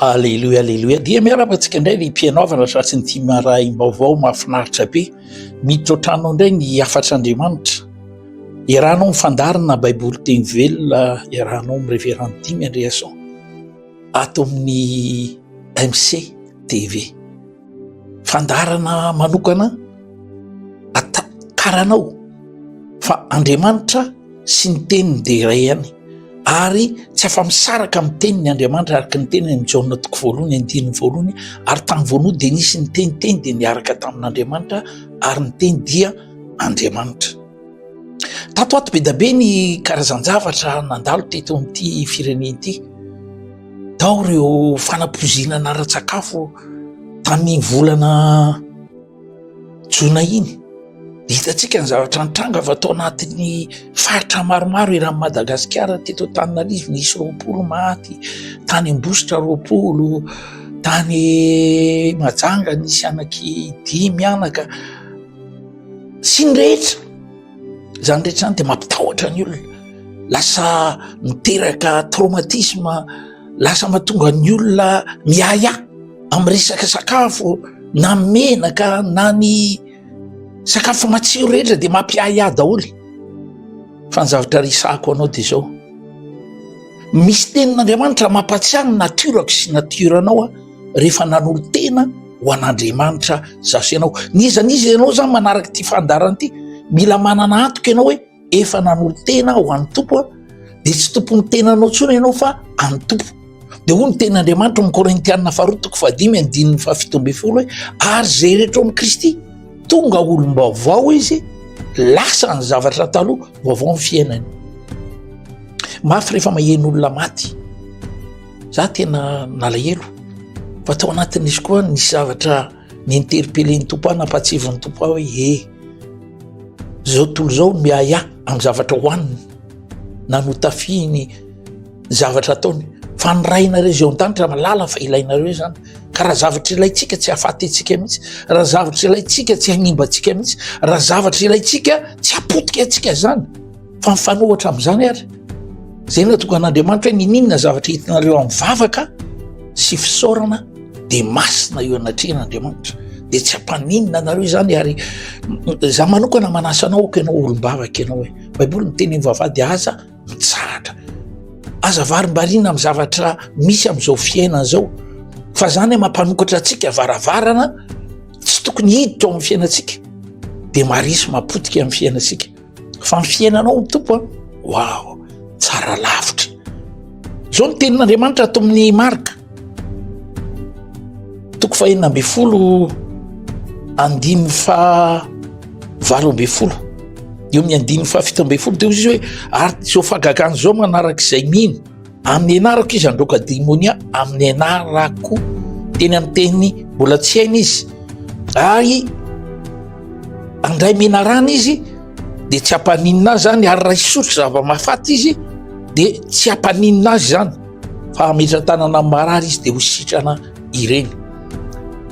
Aleloia aleloia dia miarahaba antsika indray ny mpianaovana tratry ny tim rahim-baovao mahafinaritra be miditra an-tranonao indray ny hafatr'Andriamanitra iarahanao mifandarina baiboly teny velona iarahanao amin'ny reverend Dimy Andriason ato amin'ny MC TV. fandaharana manokana ataharanao fa andriamanitra sy ny teniny de iray ihany ary tsy afa-misaraka amin'ny teniny andriamanitra araka ny teniny amin'i jaona toko voalohany andininy voalohany ary tamin'ny voalohany dia nisy ny teniteny dia niaraka tamin'andriamanitra ary ny teny dia andriamanitra tato ato be da be ny karazan-javatra nandalo teto amin'ity firenena ity Tao ireo fanapoizinana ara-tsakafo tamin'iny volana jona iny. Hitantsika ny zavatra nitranga fa tao anatin'ny faritra maromaro eran'i Madagasikara teto Antananarivo nisy roapolo maty, tany Ambositra roapolo, tany Mahajanga nisy anaky dimy mianaka sy ny rehetra. Izany rehetra izany dia mampitahotra ny olona, lasa miteraka traumatisme, lasa mahatonga ny olona miahiahy amin'ny resaka sakafo na ny menaka na ny sakafo matsiro rehetra dia mampiahiahy daholo. Fa ny zavatra resahako anao dia izao, misy tenin'Andriamanitra mampahatsiahy ny nature-ko sy ny nature-nao aho. rehefa nanolo-tena ho an'Andriamanitra za sy ianao. N'iza n'iza ianao zany manaraka ity fandaharana ity, mila manana antoka ianao hoe efa nanolo-tena ho an'ny Tompo aho, dia tsy tompon'ny tenanao intsony ianao fa an'ny Tompo. Dia hoy ny tenin'Andriamanitra ao amin'ny Korintiana faharoa toko fahadimy andininy fahafito ambin'ny folo hoe ary izay rehetra ao amin'i Kristy tonga olom-baovao izy, lasa ny zavatra taloha, vaovao ny fiainany. Mafy rehefa maheno olona maty. Za tena nalahelo fa tao anatin'izy koa nisy zavatra ni-interpeller ny Tompo ahy nampahatsiavin'ny Tompo ahy hoe ee, zao tontolo zao miahy ahy amin'ny zavatra hohaniny na notafihiny zavatra ataony fa ny Rainareo izay ao an-danitra malala fa ilainareo izany ka raha zavatra ilaintsika tsy hahafaty antsika mihitsy, raha zavatra ilaintsika tsy hanimba antsika mihitsy, raha zavatra ilaintsika tsy hapotika antsika izany. fa mifanohatra amin'izany ary zay natokan'andriamanitra hoe nininona zavatra hitinareo amin'ny vavaka sy fisaorana de masina eo anatrehan'andriamanitra de tsy ampaninona anareo izany ary za manokana manasanao oko ianao olom-bavaka ianao hoe baiboly miteny am vavady aza mitsahatra aza varimbarina am zavatra misy am'izao fiainana zao fa zany e mampanokatra atsika varavarana tsy tokony hiditra ao am'ny fiainantsika de marisy mapotika am'ny fiainantsika fa ny fiainanao ny tompo a waw tsara lavitra zao ny tenin'andriamanitra ato amin'ny marka toko fahenina ambe folo andiny fa valo ambe folo eo amin'ny andiny fa fito ambe folo de ozy izy hoe ary zao fagagana zao manaraka izay mino Amin'ny ianarako izy handroaka demonia, amin'ny ianarako teny amin'ny teny mbola tsy hainy izy, ary andray menarana izy dia tsy hampaninona azy zany, ary raha hisotro zava-mahafaty izy dia tsy hampaninona azy zany, fa hametra-tanana amin'ny marary izy dia ho sitrana ireny.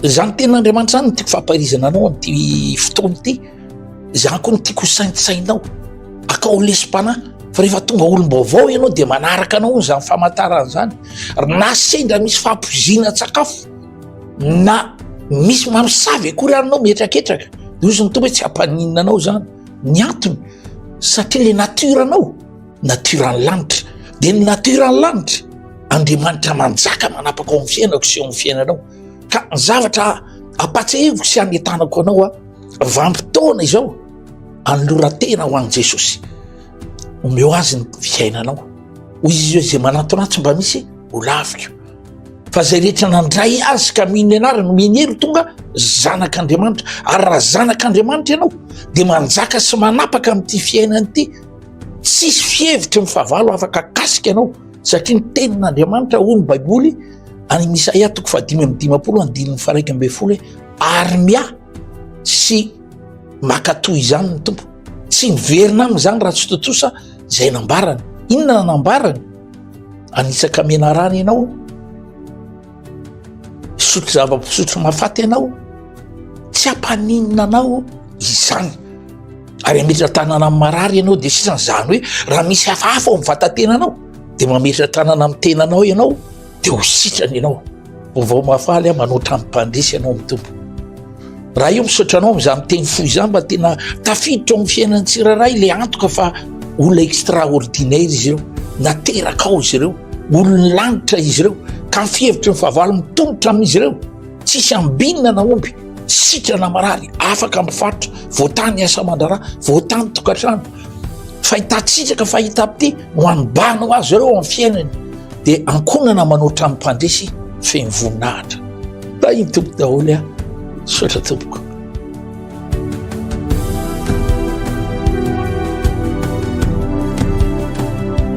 Izany tenin'Andriamanitra izany no tiako fampahirizana anao amin'ity fotoana ity. Izany koa no tiako ho saintsainao, akao lesim-panahy fa rehefa tonga olom-baovao ianao dia manaraka anao izany famantarana izany. Na sendra misy fampoizina sakafo na misy mamosavy akory anao mihetraketraka, dia ozy ny tompo hoe tsy hampaninona anao izany. Ny antony satria le natiora anao, natiora ny lanitra. Dia ny natiora ny lanitra, Andriamanitra manjaka manapaka ao amin'ny fiainako sy ao amin'ny fiainanao. Ka ny zavatra ampatsahiviko sy anetanako anao aho, vanim-potoana izao anoloran-tena ho an'i jesosy omeo azy ny fiainanao hoy izy eo izay manantona ahy tsy mba misy ho laviko fa zay rehetra nandray azy ka mino ny anarany minery tonga zanak'andriamanitra ary raha zanak'andriamanitra ianao de manjaka sy manapaka ami'ity fiainany ity tsisy fihevitry ny fahavalo afaka akasika ianao satria ny tenin'andriamanitra hoy ny baiboly any misahia toko fahadimy am'dimapolo andininy faraika ambe folo hoe Ary miahy sy mankatoa izany ny Tompo. Tsy miverina aminy izany raha tsy tontosa izay nambarany. Inona no nambarany? Hanitsaka menarana ianao, hisotro zava-pisotro mahafaty ianao, tsy hampaninona anao izany. Ary hametra tanana amin'ny marary ianao, dia sisa izany hoe raha misy hafahafa ao amin'ny vatatenanao, dia mametra tanana amin'ny tenanao ianao, dia ho sitrana ianao ho vao mahafaly aho manoatra amim-pandresy ianao ny tompo raha io misaotra anao amin'izany miteny fo izany mba tena tafiditra ao amin'ny fiainan'ny tsirairay ilay antoka fa olona extraordinaire izy ireo nateraka ao izy ireo olon'ny lanitra izy ireo ka ny fihevitry ny fahavalo mitolotra amin'izy ireo tsisy ambinina na omby sitrana marary afaka mifaritra voatany asa mandrara voatany tokantrano Fahitantsika fa hitam-pity no hanibana ho azy ireo amin'ny fiainany, dia ankohonana manao trano mpandresy feno voninahitra. Tahin'ny Tompo daholo aho. Misaotra Tompoko.